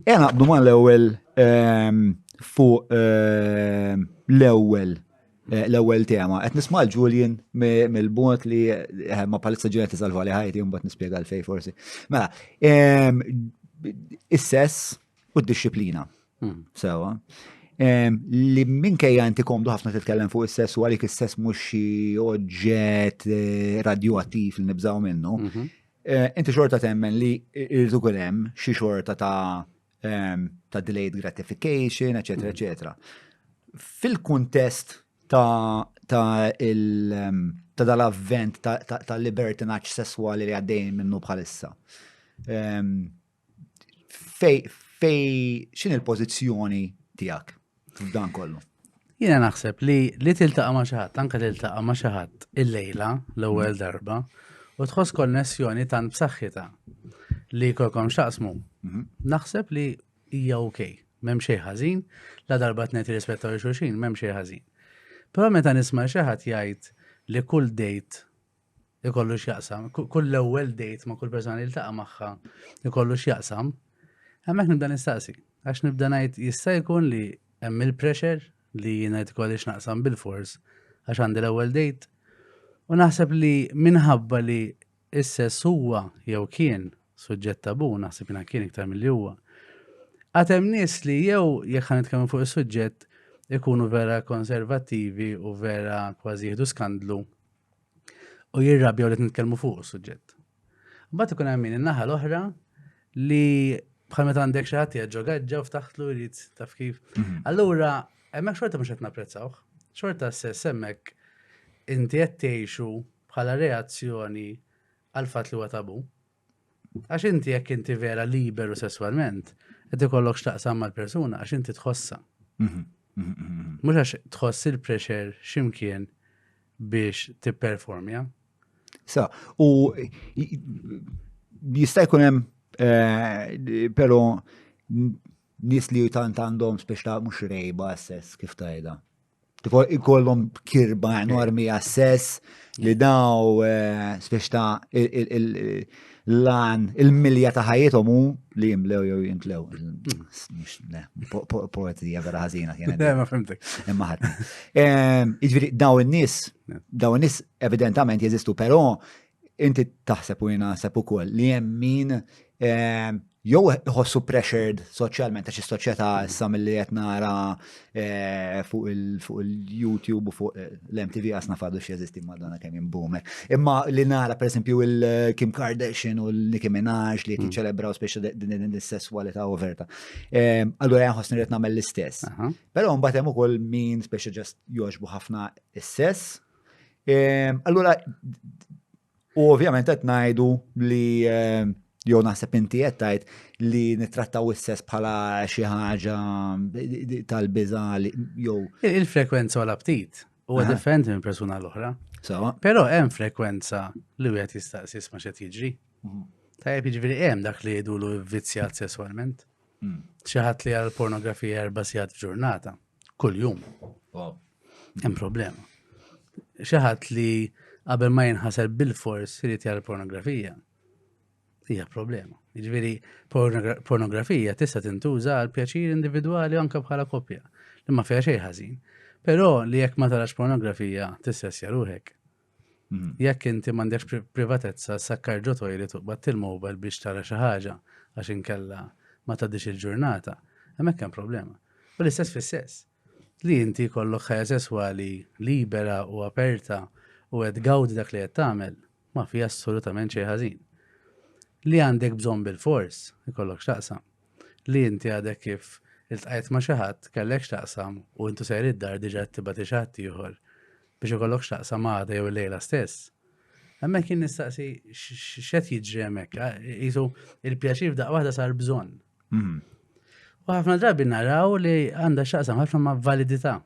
E naqbdu ma l-ewwel ehm, fuq ehm, l-ewwel eh, l-ewwel tema. Qed nisma' Julian mill-bot li eh, ma palissa ġunet isalva li ħajti mbagħad nispjega l-fej forsi. Mela, ehm, is-sess u d-disciplina. Hmm. Sewa. Li minkejja inti komdu ħafna titkellem fuq is-sess u għalik is-sess mhux xi oġġett eh, radioattiv li nibżaw minnu. Mhm. Eh, inti xorta temmen li irridu kull hemm xi xorta ta' ehm, ta' delayed gratification, eċetera, mm. eċetera. Fil-kuntest ta' ta' il ehm, ta' dal-avvent ta' libertinaċ sesswali li għaddej minnu bħalissa. Ehm, fej, fej, xin il-pozizjoni tijak f'dan kollu? Jina naħseb li li tiltaqa ma xaħat, anka tiltaqa ma xaħat il-lejla l-ewwel mm. darba u tħoss konnessjoni tan b'saħħita li kolkom xaqsmu. Mhm. Naħseb li hija ok, m'hemm xejn ħażin, la darba tnejt rispetta li xulxin, m'hemm xejn ħażin. Però meta nisma' xi ħadd jgħid li kull dejt ikollu x'jaqsam, kull l-ewwel dejt ma' kull persona li ltaqa' magħha ikollu x'jaqsam, hemmhekk nibda nistaqsi. Għax nibda ngħid jista' jkun li hemm il-pressure li jiena tkolli x'naqsam bil-fors għax għandi l-ewwel dejt. U naħseb li minħabba li s-sess huwa jew kien suġġett tabu, naħseb jiena kien iktar mill-li huwa. Għatem nies li jew jekk ħan nitkellmu fuq is-suġġett ikunu vera konservattivi u vera kważi jieħdu skandlu u jirrabjaw li nitkellmu fuq is-suġġett. Mbagħad ikun hemm min in-naħa l-oħra li bħal meta għandek xi ħadd jaġġo gaġġa u ftaħtlu jrid taf kif. Mhm. Allura hemmhekk xorta mhux qed napprezzawh. Xorta s-sess hemmhekk inti qed tgħixu bħala reazzjoni għal fatt li huwa tabu. Għax inti jekk inti vera liberu sesswalment, qed ikollok x'taqsam mal-persuna għax inti tħossha. Mhm, mhm, mhm, Mhux għax tħoss il-pressure x'imkien biex tipperformja. Sa, u jista' jkun hemm eh, però nis li tant għandhom spiex ta' mhux rejba s-sess kif tajda. Tifo ikollhom kirba enormi għas-sess li daw eh, spiex ta' l-lan, il-milja ta' ħajjithom hu li jimlew jew jintlew. Poetija vera ħażina kienet. Eh, ma fimtek. Imma ħadd. Jiġifieri daw in-nies, daw in-nies evidentament jeżistu, però Inti taħseb u jina naħseb ukoll li hemm min ehm, jew iħossu pressured soċjalment għax is-soċjetà issa milli qed nara eh, fuq il-YouTube u fuq eh, l-MTV għasna fadu x'jeżisti madonna kemm jimbume. Imma li nara pereżempju il-Kim eh, Kardashian u l-Nicki Minaj li qed mm. jiċċelebraw speċi din is-sesswalità overta. Ehm, allura jien ħossni qed nagħmel l-istess. Però mbagħad hemm ukoll min speċi ġast jogħġbu ħafna is-sess Ehm, allura, u ovvjament qed ngħidu li ehm, jew naħseb inti qed tgħid li nittrattaw is-sess bħala xi ħaġa tal-biża jew. Il-frekwenza u l-aptit huwa differenti minn persuna l-oħra. Però hemm frekwenza li wieħed jistaqsis ma xed jiġri. Mhm. Tajjeb jiġri hemm dak li jgħidulu vvizzjat sesswalment. Mm. Xi ħadd li għal pornografija erba' sigħat f'ġurnata. Kuljum. Wow. Hemm problema. Xi ħadd li qabel ma jinħasel bil-fors irid jara pornografija. Hija problema. Jiġifieri pornografija tista' tintuża għal pjaċir individwali anke bħala koppja li ma fiha xejn ħażin. Però li jekk ma tarax pornografija tissessja ruħek. Mhm. Jekk inti m'għandekx privatezza, sakkar ġo tojli tuqbad il-mobile biex tara xi ħaġa għax inkella ma tgħaddix il-ġurnata, hemmhekk hemm problema. U l-istess fis-sess. Li inti kollok ħajja sesswali libera u aperta u qed gawdi dak li qed tagħmel, ma fi assolutament xejn ħażin. Li għandek bżonn bil-fors, ikollok x'taqsam. li inti għadek kif iltqajt ma' xi ħadd kellek x'taqsam u intu sejr id-dar diġà qed tibgħati xi ħadd ieħor biex ikollok x'taqsam għada jew lejla stess. Hemmhekk kien nistaqsi x'qed jiġri hemmhekk, qisu il-pjaċir f'daqqa waħda sar bżonn. Mhm. U ħafna drabi naraw li għandha x'taqsam ħafna ma' validità.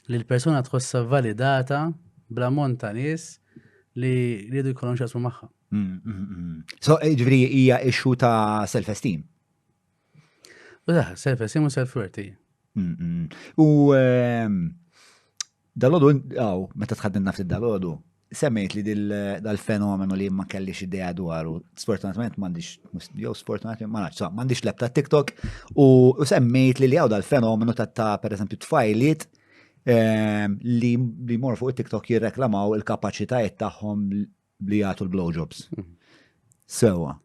li l-persuna tħossha validata bl-ammont ta' nies li rridu jkollhom xasmu magħha. So, eh, ġviri, hija issue ta' self-esteem. U da, self-esteem u self-worth. U ehm, dal-ħodu, għaw, meta tħaddin nafti dal-ħodu, Semmejt li dal-fenomenu li ma kellix idea dwaru, sfortunatament m'għandix, jew sfortunatament ma nafx, m'għandix lebta TikTok u semmejt li li għaw dal-fenomenu ta' ta' per eżempju tfajliet ehm, li li mor fuq TikTok jirreklamaw il-kapaċitajiet tagħhom li jagħtu l-blowjobs. Mhm. Sewa.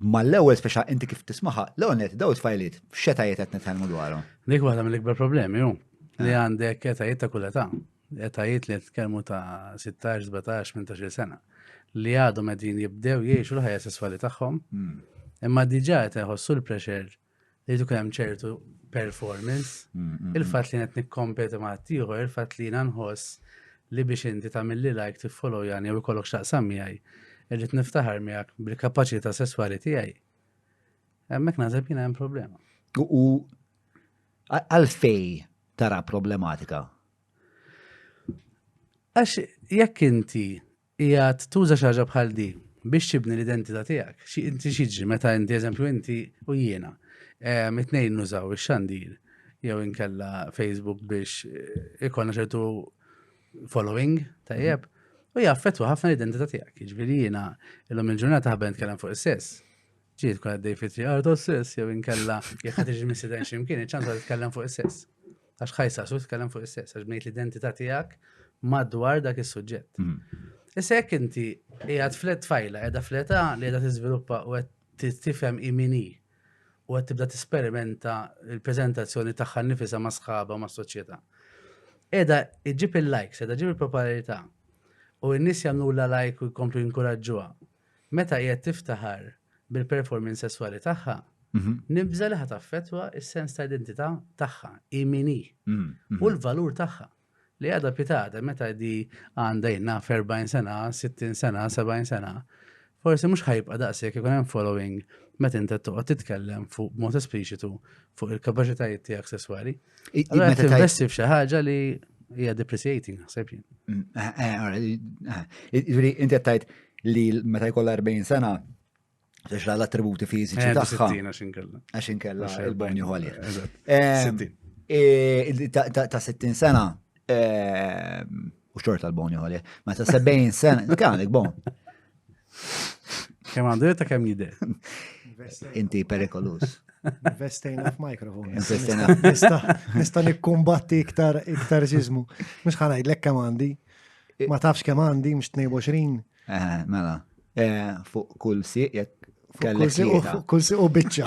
Ma l-ewwel speċa inti kif tismaħa, l-ewwel net daw it-tfajliet x'etajiet qed nitkellmu dwarhom. Dik waħda mill-ikbar problemi hu li ah. għandek etajiet ta' kull età, etajiet li qed nitkellmu ta' 16, 17, 18 sena li għadhom qegħdin jibdew jgħixu l-ħajja sesswali tagħhom. Hmm. Imma diġà qed iħossu l-pressure li jdu hemm ċertu performance, mm, mm, mm. il-fatt li qed nikkompeti ma' ieħor, il-fatt li jiena nħoss li biex inti tagħmilli like tiffollow jani u jkollok x'taqsam miegħi, irrid niftaħar miegħek bil-kapaċità sesswali tiegħi. Hemmhekk naħseb jiena hemm problema. U għalfej tara problematika? Għax jekk inti Qiegħed tuża xi ħaġa bħal di biex tibni l-identità tiegħek. Xi inti xiġri meta inti eżempju inti u jiena mitnejn nużaw ix-xandir jew inkella Facebook biex eh, ikonna ċertu following tajjeb u jaffettwa ħafna l-identità tiegħek. Jiġifieri jiena illum il-ġurnata ħabben tkellem fuq is-sess. Ġi tkun għaddej fi triq għardu s-sess, jew inkella jekk ħad iġi missiden ximkien, iċ-ċansa tkellem fuq is-sess. Għax ħajsa su tkellem fuq is-sess, għax bnejt l-identità tiegħek madwar dak is-suġġett. Mhm. Issa jekk inti qiegħed flet tfajla, qiegħda fleta li qiegħda tiżviluppa u qed tifhem imini u qed tibda tisperimenta l-preżentazzjoni tagħha nifisha ma' sħaba ma' soċjetà. Qiegħda iġib il-likes, qiegħda ġib il-popolarità u n-nies jagħmlu la like u jkomplu jinkuraġġuha Meta qiegħed tiftaħar bil-performance sesswali tagħha, nibża' li ħa taffettwa s-sens ta' identità tagħha, hi min hi, u l-valur tagħha li għadha pitada meta di għandha jien naf 40 sena, 60 sena, 70 sena. Forsi mhux ħajbqa' daqshekk ikun hemm following meta inti toqgħod titkellem fuq mod espliċitu fuq il-kapaċitajiet tiegħek sesswali. Meta tinvesti f'xi ħaġa li hija depreciating naħseb jien. Mm, eh, eh, eh, jiġri inti qed tgħid li meta jkollha 40 sena Għax l-attributi fiziċi tagħha. Għax inkella il-bonju għalja. Ta' 60 sena U xorta l-boni għole. Ma ta' 70 sena, għandek bon. Kem għandu ta' kem jide. Inti perikolus. Investejna f'mikrofon. Investejna. Nista nikkumbatti iktar iktar ġizmu. Mux ħanaj, l-ek kem għandi. Ma tafx kem għandi, mux 22. Eh, mela. Eh, fuq kull siq, jek kellek. Kull siq u bicċa.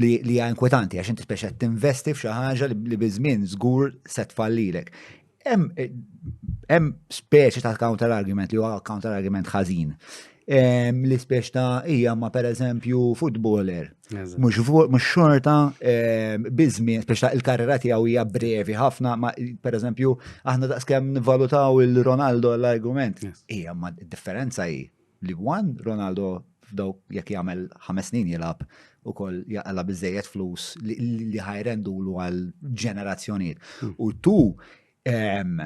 li hija inkwetanti għax inti speċa tinvesti f'xi ħaġa li biż-żmien żgur se tfallilek. Hemm speċi ta' counter argument li huwa counter argument ħażin. Li speċi ta' hija ma pereżempju footballer. Mhux xorta biż-żmien speċi ta' il-karriera tiegħu hija brevi ħafna ma pereżempju aħna daqskemm nivvalutaw il-Ronaldo l-argument. Hija ma differenza hi li one Ronaldo f'daw jekk jagħmel ħames snin jilgħab ukoll jaqala biżejjed flus li ħajrendulu għal ġenerazzjonijiet. Hmm. U tu ehm,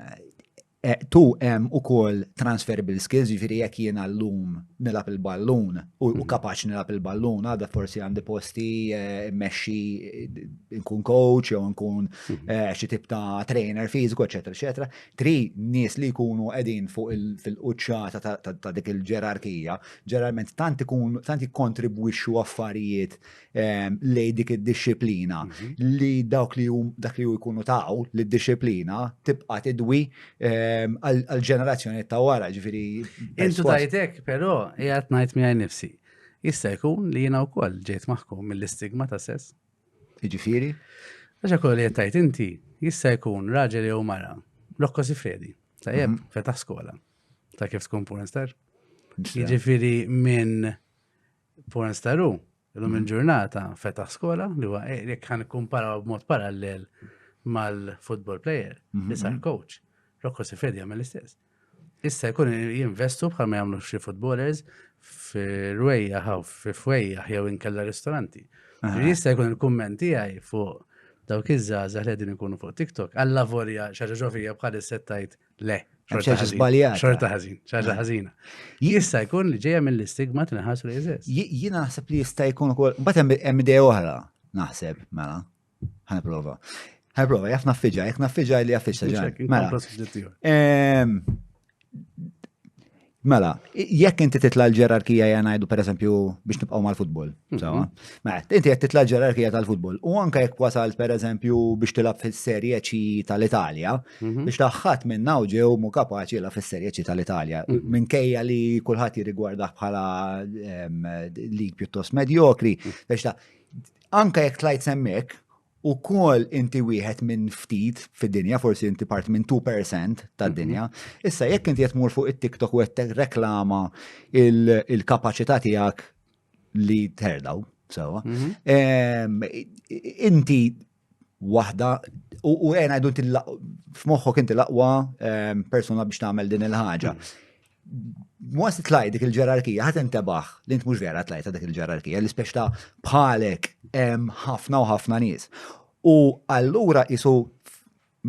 e, tu hemm ukoll transferable skills, jiġifieri jekk jien llum nilgħab il-ballun u hmm. kapaċi nilgħab il-ballun, għadha forsi għandi posti e, mmexxi e, nkun coach jew nkun hmm. xi tip ta' trainer fiżiku, eċetera, eċetera. Tri nies li jkunu qegħdin fuq fil-quċċata ta' dik il-ġerarkija, ġeneralment tant ikun tant jikkontribwixxu affarijiet ehm, lejn dik id-dixxiplina mhm. li dawk li dak li jkunu taw li d-dixxiplina tibqa' tidwi ehm, għall-ġenerazzjoni ta' wara, ġifieri. Intu tajtek, però qiegħed ngħid miegħi nifsi. Jista' jkun li jiena wkoll ġejt maħkum mill-istigma ta' sess. Jiġifieri? Għax hekk li qed inti jista' jkun raġel jew mara. Rokko Sifredi, tajjeb, mhm. fetaħ skola. Ta' kif tkun pornstar? Jiġifieri minn pornstaru, illum mhm. il-ġurnata fetaħ skola li huwa eh, jekk kan kumparaw b'mod parallel mal-football player, li mhm, sar coach. Rokko Sifredi għamel l-istess. Issa jkun jinvestu bħal ma jagħmlu xi footballers f'rwejja ħaw f'wejja jew inkella ristoranti. Jista' jkun il-kumment tiegħi fuq dawk iż-żgħażagħ li qegħdin ikunu fuq TikTok għalla vorja xi ħaġa ġofija bħal settajt le. Xorta ħażin, xorta ħażina. Jista' jkun li ġejja mill-istigma tinħas li jeżist. Jien naħseb li jista' jkun ukoll, mbagħad hemm idea oħra naħseb mela. Ħana prova. Ħana prova, jaf naffiġa, jek naffiġa li jaffiġa ġan. Mela. Mela, jekk inti titla l-ġerarkija jgħanajdu per eżempju biex nibqaw mal-futbol. Mhm. Mela, inti jgħet titla l-ġerarkija tal-futbol. U anka jekk wasalt per eżempju biex tilab fil-serje ċi tal-Italja, mhm. biex taħħat minn naw ġew mu kapaċi la fil-serje ċi tal-Italja. Mhm. Minn kejja li kullħat jirrigwarda bħala lig pjuttost medjokri, biex ta' Anke jekk tlajt s'hemmhekk, ukoll inti wieħed minn ftit fid-dinja, forsi inti part minn 2% tad-dinja. Mhm. Issa jekk inti qed tmur fuq it-TikTok u qed reklama il-kapaċità tiegħek li terdaw, sewa. Mhm. Inti waħda u għena jdu f'moħħok inti laqwa persuna biex tagħmel din il-ħaġa. Mhm. once tlaj dik il-ġerarkija, ħat intebaħ, li int mux vera tlajta dik il-ġerarkija, li speċta bħalek hemm ħafna u ħafna nies. U allura isu,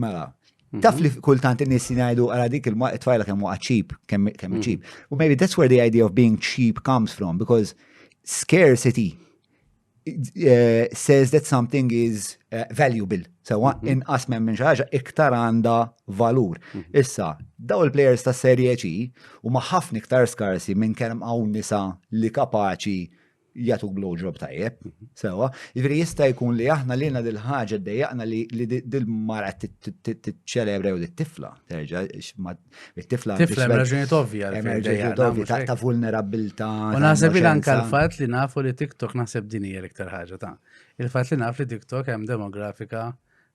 mela, mhm. taf li kultant in-nies jgħidu għara dik il-tfajla kemm waqgħet cheap, kemm mhm. cheap. U maybe that's where the idea of being cheap comes from, because scarcity eh, says that something is eh, valuable. Sewa, mhm. inqas minn minn xaħġa iktar għanda valur. Mhm. Issa, daw il-players ta' serje ċi u maħafni iktar skarsi minn kemm għaw nisa li kapaċi jgħatu blowjob tajjeb, mhm. sewa. Ġviri jista jkun li aħna li jena dil-ħagġa dejjaqna li dil-mara t-ċelebra u t-tifla, terġa, It-tifla Tifla hemm raġunijiet ovvja hemm għalfejn dejja, raġunijiet la, ovvji mhux ta' hekk. ta' vulnerabilità. U ta' naħseb li anka innoċenza. l-fatt li nafu li TikTok naħseb din hija l-iktar ħaġa ta' il-fatt li naf li TikTok hemm demografika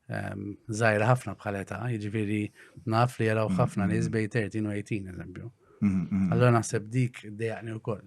ehm, żgħira ħafna bħal età, jiġifieri naf li jaraw ħafna nies bej 13 u 18 eżempju. Mhm, mhm. Allora naħseb dik dejaqni wkoll.